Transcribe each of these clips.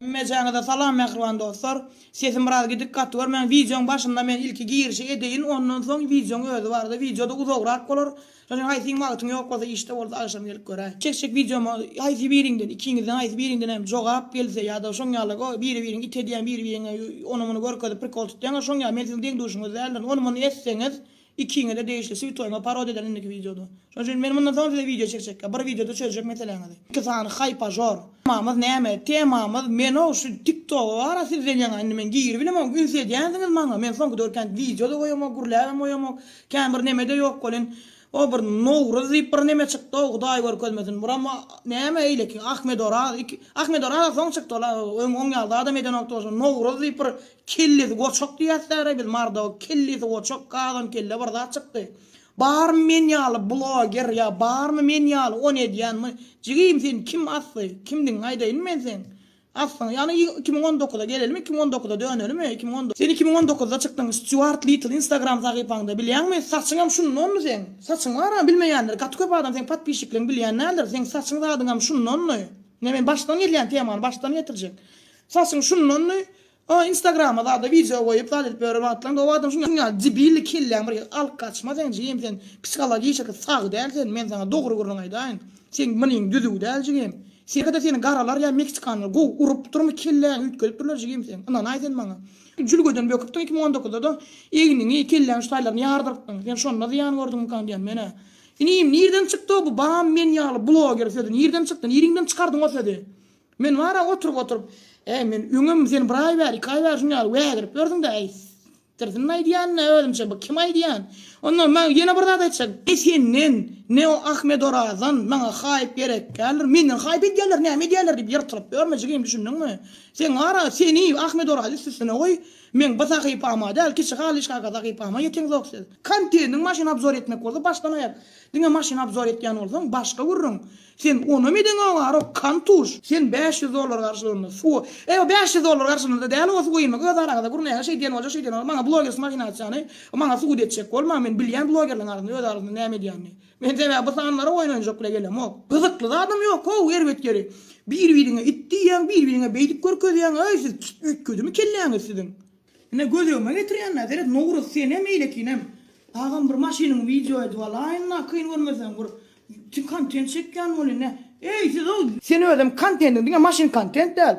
Hemmejaňyza salam mähriban dostlar. Sesim biraz gidik gaty görmäň. Wideoň başynda men ilki girişi edeýin ondan soň wideoň özi barada wideoda uzagrak bolar. Şoň üçin haýsy gün wagtyň ýok bolsa işde bolsa agşam gelip göräý. Çekjek wideoma haýsy biriňden ikiňizden haýsy biriňden hem jogap gelse ýada şoň ýaly go biri biriňi it edýän biri biriňe ony muny görkezip prikol tutýaňa şoň ýaly men siziň deň duşuňyz däldirin ony muny etseňiz Ikiňize degişli sü toýuma parodiýa eder indiki wideoda. Şonuň üçin men mundan soň size wideo çekjekka bir wideoda çözjek meseleňizi. Iki sany haýpažor. Temamyz näme? Temamyz menow şu tiktoga bara sizden ýaňa indi men giribilemok üns edýänsiňiz maňa men soňky döwür kän wideoda goýamok gürläbem goýamok kän bir nemede ýok welin o bir nowruz diýip bir neme çykdow hudaý görkezmesin buram näme eýleki ahmedoraz iki ahmedoraz soň çykdy ol öň oň ýaly zadam edenokdy bolsa nowruz diýip bir Kellesi goçak diýäsdäre biz mardaw kellesi goçak gazan kelle bir zat çykdy. Barmy men ýaly bloger ýa barmy men ýaly ony edýän my jigim seni kim asdy kimdigiňi aýdaýynmy men seň asdyňy ýagny iki müň on dokuza gelelimi iki müň on dokuza dönelimi iki müň on Sen iki müň on dokuzda çykdyň Stýuart Litl instagram sahypaňda bilýäňmi saçyňam şundanmy seň saçyň baramy bilmeýänler gaty köp adam seň podpişikleň bilýän däldir seň saçyň zadyňam şundanmy ine men başdan gelýän temany başdan getirjek saçyň şundanmy Aa instagrama zada wideo goýup zat edip ýörer wagtlaň gowy adam şuň ýaly debilli kelläň bir alk gaçma seň jigim sen psihologişiki sag däl sen men saňa dogry gürrüň aýdaýyn seň mlyň düzüw däl jigim sergede seni garalar ýa meksikanlar gowy urup durmy kelläňi üýtgedipdirler jigim seň ynanaý sen maňa jülgeden böküpdiň iki müň on dokuzda da egniňi kelläň şu taýlaryny ýardyrypdyň sen şonda zyýan gördüňmükaň diýän menä inim nirden çykdyw bu bam men ýaly bloger sözi nirden çykdy niriňden çykardyň o sözi. Men bar-a oturyp-oturyp, Äý, men öňem sen bir aý bäri, iki aý bäri şunuň ýaly wägirip ýördüň-dä, äý, stirsinmi aýdýan-da özümçe bu, kim aýdýan? Onda maňa ýene bir zat aýtjak, ne senden, ne o Ahmedorazdan maňa haýp gerek däldir, menden haýp edýärler, näme edýärler diýip ýyrtylyp ýörme jigim, düşündiňmi? Sen bar-a, seni, Ahmedorazy üst-üstüne goý, meň bu sahypama däl, kiçi halyçkaka sahypama ýeteňzok siz. Konteniň maşyny obzor etmek bolsa başdan-aýak, diňe maşyny obzor edýän bolsaň, başga gürrüň. Sen onam edeň owarok kantuş. Sen bäş ýüz dollar garşylygynda suwa Eý o bäş ýüz dollar garşylygynda däl owa suwa inmek öz araňyzda gürnäge şeý diýen bolja şeý diýen bolja maňa blogersiň mahinasiýany maňa subut etjek bolma men bilýän blogerleriň arasynda öz araňyzda näme edýänini men sebäbi bu sanlara oýun oýnajak bile gelemok gyzykly zadam ýok how erbet ýeri bir biriňe it diýýäň bir biriňe beýdip görkezýäň äý siz üýtgedimi kelläňiz siziň. Ine göz öňüme getirýän Nazeret Nowruz senem eýlekinem. Agam bir maşynyňy wideo edip alaýynla kyn görmeseň bir kontent çekýän bolýa ne. Eý sizow. Sen özem kontentiň diňe maşyn kontent däl.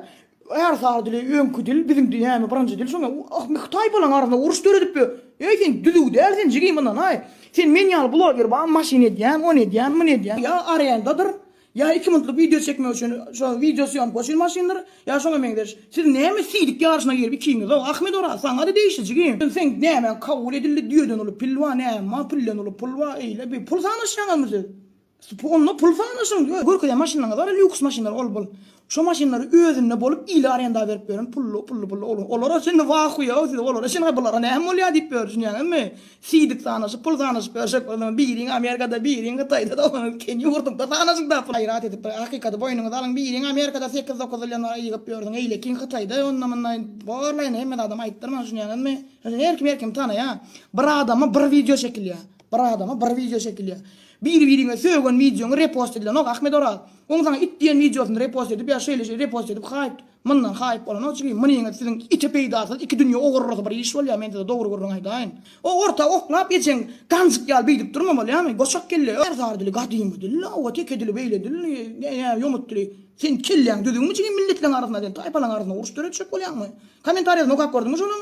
Ärsary dili öňki dil biziň dünýämi birinji dil şoňa ahmi hytaý bolaň arasynda uruş döredip ýör. Eý sen düzüw däl sen jigim ynanaý. Sen men ýaly bloger bamy maşyn edýän ony edýän muny edýän ýa arendadyr Ýa iki minutlyk wideo çekmek üçin şo wideo sýomka üçin maşyndyr, ýa şoňa meňzeş. Siz näme silik ýaryşyna girip ikiňizow Ahmet Oraz saňa-da degişliji kim? Sen nämäň kabul edildi düýeden uly pil bar näme pilden uly pul bar eýle bir pul sanaşýaňyzmy siz? Onda pul sanaşyň görkezen maşynlaryňyz bar lýuks maşynlar ol bul. Şo maşynlary özünde bolup ile arenda berip ýören pully pully pully olar olara şindi wah huýaw siz olara şin ha bulara näme bolýa diýip ýör düşünýäňizmi siýdik sanaşyp pul sanaşyp ýörşek bolsaňyz biriň amerikada biriň hytaýda doganyňyz kän ýurdumda sanaşyň da pul gaýrat edip bir hakykaty boýnuňyza alyň biriň amerikada sekiz dokuz ýyldan bäri ýygyp ýörsiň eýlekiň hytaýda onda munda barlaýyny hemme zadam aýtdyrmaň düşünýäňizmi her kim her kimi tanaýa bir adama bir wideo çekilýä. Bir adama bir wideo çekilýär. Bir biriňe sögen wideoňy repost edilenok Ahmet Oraz. Oň saňa it diýen wideosyny repost edip ýa şeýle şeýle repost edip haýyp Mundan haýyp bolanok çünki munyňyz siziň ite peýdasyz iki dünýe ogurlysy bir iş bolýar men size dogry gürrüň aýdaýyn. O orta oklap ejeň ganjyk ýaly beýdip durma bolýamy goçak kelle öh. Erzar dili gadymy dil la oba teke dili beýle dil ýa ýomut dili. Sen kelläň düzügmi jigim milletleň arasynda sen taýpalaň arasynda uruş döretjek bolýaňmy? Kommentariýasyny okap gördüňmi şonuň?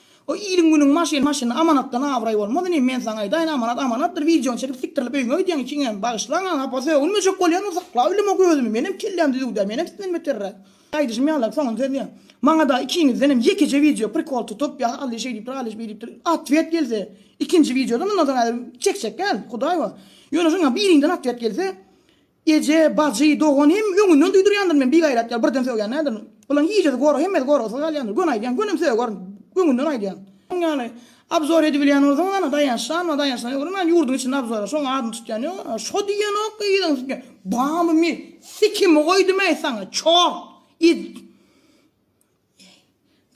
O iliň günüň maşyny maşyn amanatdan abraý bolmaz inim men saňa aýdaýyn amanat amanatdyr wideony çekip sikdirilip öýüňe gidýäň ikiňem bagyşlaň aňa apa sögünmejek bolýan bolsa sakla öýleme gözümi menem kelläm düzüwdä menem sizden beterräk aýdyşym ýaly soňuny sözleýän maňada ikiňizdenem ýekeje wideo prikol tutup ýa hally şeý diýipdir hally beý diýipdir otwet gelse ikinji wideoda mundan soň häzir çekjek däl hudaý bar ýöne şoňa biriňden otwet gelse Eje, bajy, dogan hem öňünden duýdurýandyr men bigaýrat ýaly birden sögýän däldirin. Bularyň gijesi gorag hemmesi goragsyz galýandyr. Göni aýdýan, gönem sögärin. Öňünden aýdýan. Şoň ýaly abzor edibilýän bolsaňyz hany daýançdanma daýançdan ýokary men ýurduň içinde abzora şoň adyny tutýan ýok a şo diýenok ki yzyny tutýan bamy men sikimi goýdum eý saňa çort yz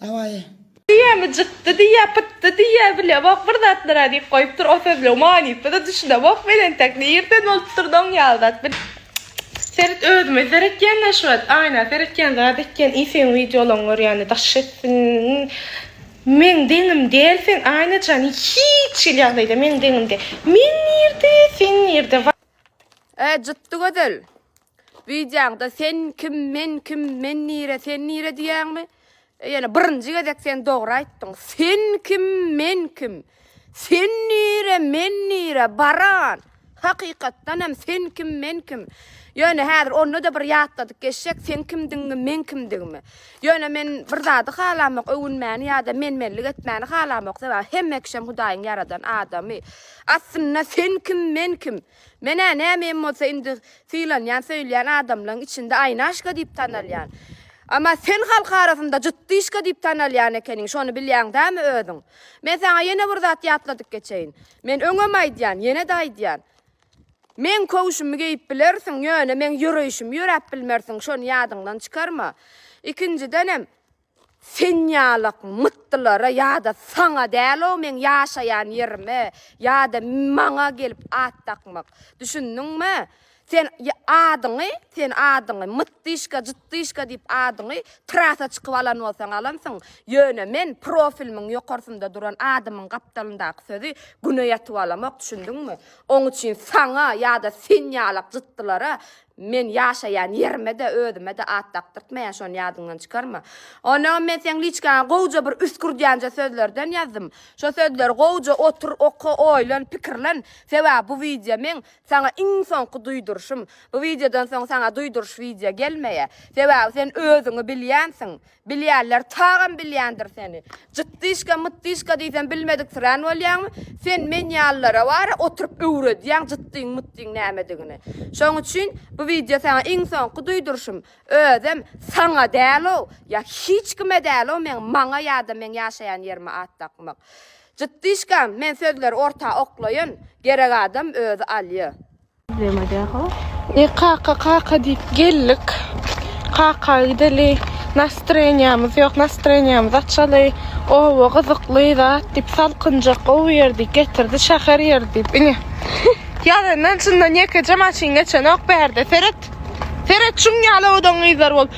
Dawaý. Diýýämi cykdy diýýä pytdy diýýä bilýämok bir zatlara diýip goýupdyr o sözleň manysyna düşünemok men entek nirden bolupdyr doň ýaly zat bil Seret özüme seretýände şu wagt aýna seretýän zat etýän i seň wideolaň görýände daş etsin meň deňim däl sen aýnajan hiç hili ýagdaýda meň deňim däl men nirde sen nirde wa. Eee cytdy gözel. Wideoňda sen kim men kim men nire sen nire diýýäňmi? Ýene birinji gezek sen dogry aýtdyň. Sen kim men kim? Sen nire men nire baran? Hakykatdan hem sen kim men kim? Ýöne häzir onda da bir ýatladyk geçjek sen kimdigiňi men kimdigimi. Ýöne men bir zady halamok öwünmäni ýa-da men-menlik etmäni halamok sebäbi hemme kişem Hudaýyň ýaradan adamy. Aslynda sen kim men kim? Men-ä nämem bolsa indi sylanýan, söýülýän adamlaň içinde Aýnaşka diýip tanalýan. Emma sen halk arasynda Jytdyşka diýip tanalýan ekeniň, şony bilýäň dämi özüň? Men saňa ýene bir zat ýatladyp geçeýin. Men öňem aýdýan, ýene-de aýdýan. Meň köwşümi geýip bilersiň, ýöne meň ýöreýşimi ýöräp bilmersiň, şony ýadyňdan çykarma. Ikinjidenem, Sen ýalak mytdylara ýada saňa däl-ow meň ýaşaýan ýerime ýada maňa gelip at dakmak. Düşündiňmi? Sen adyňy, sen adyňy Mytdyşka, Jytdyşka diýip adyňy trasa çykyp alan bolsaň alansyň, ýöne men profilimiň ýokarsynda duran adymyň gapdalyndaky sözi güne ýatyp alamok, düşündiňmi? Oň üçin saňa ýada sen ýalak jytdylara Men ýaşaýan ýerime-de, özüme-de at dakdyrtmaýan, şony ýadyňdan çykarma. Onagam men seň liçkaňa gowja bir üsgürdýänje sözlerden ýazdym. Şo sözleri gowja otur, oka, oýlan, pikirlen. Sebäbi bu wideo meň saňa iň soňky duýduryşym. Bu wideodan soň saňa duýduryş wideo gelmeýär. Sebäbi sen özüňi bilýänsiň. Bilýänler tagam bilýändir seni. Jytdyşka, mytdyşka diýsem bilmediksirän bolýaňmy? Sen men ýalylara wara oturyp öwredýäň jytdyň, mytdyň nämedigini. Şoň üçin bu wideo saňa iň soňky duýduryşym. Özem saňa däl-ow, ýa hiç kime däl-ow meň maňa ýa-da meň ýaşaýan ýerime at dakmak. Jytdyşkam, men sözleri orta oklaýyn, gerek adam özi alýa. Ine kaka kaka diýip geldik. Kaka gideli. Nastroýenýamyz ýok. Nastroýenýamyzy açaly. Oba gyzykly zat diýip salkynjak gowy ýer diýip getirdi. Şäher ýeri diýip. Ine. Ýazyndan çyndan ýekeje maşyn geçenok bärde. Seret. Seret şuň ýaly owadan gyzlar bolup.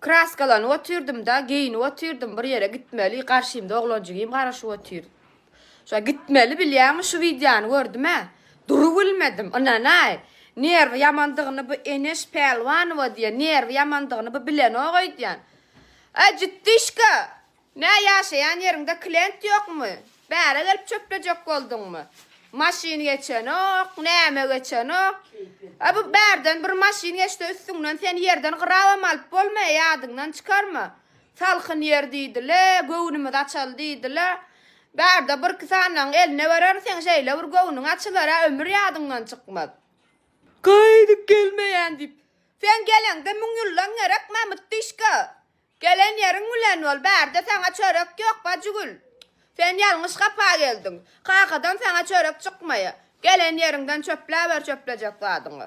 Kraskalanyp otyrdym-da, geýinip otyrdym, bir ýere gitmeli, garşymda oglanjygym garaşyp otyr. Şa gitmeli bilýäňmi, şu wideony gördüm-ä. Durup bilmedim, ynanaý. Nerwi ýamandygyny bu Eneş Pälwanowa diýen, nerwi ýamandygyny bu bilenok öýdýän. Äjitdişka! Nä ýaşaýan ýeriňde klient ýokmy? Bäre gelip çöplejek bolduňmy? Maşyn geçenok, näme geçenok. A bu bärden bir maşyn geçse üstüňden seni ýerden gyrabam alyp bolmaýa ýadyňdan çykarma. Salkyn ýer diýdile, göwnümiz açaly diýdile. Bärde birki sanyň eline berer seň şeýle bir göwnüň açylar-a ömür ýadyňdan çykmaz. Gaýdyp gelmeýän diýip. Seň geleňde müň ýyldan gerek Mamut dişka. Gelen ýeriň bilen bol, bärde saňa çörek ýok, Bajygül. Sen ýalňyş gapa geldiň. Kakadan saňa çörek çykmaýa. Gelen ýeriňden çöpläber çöplejek zadyňy.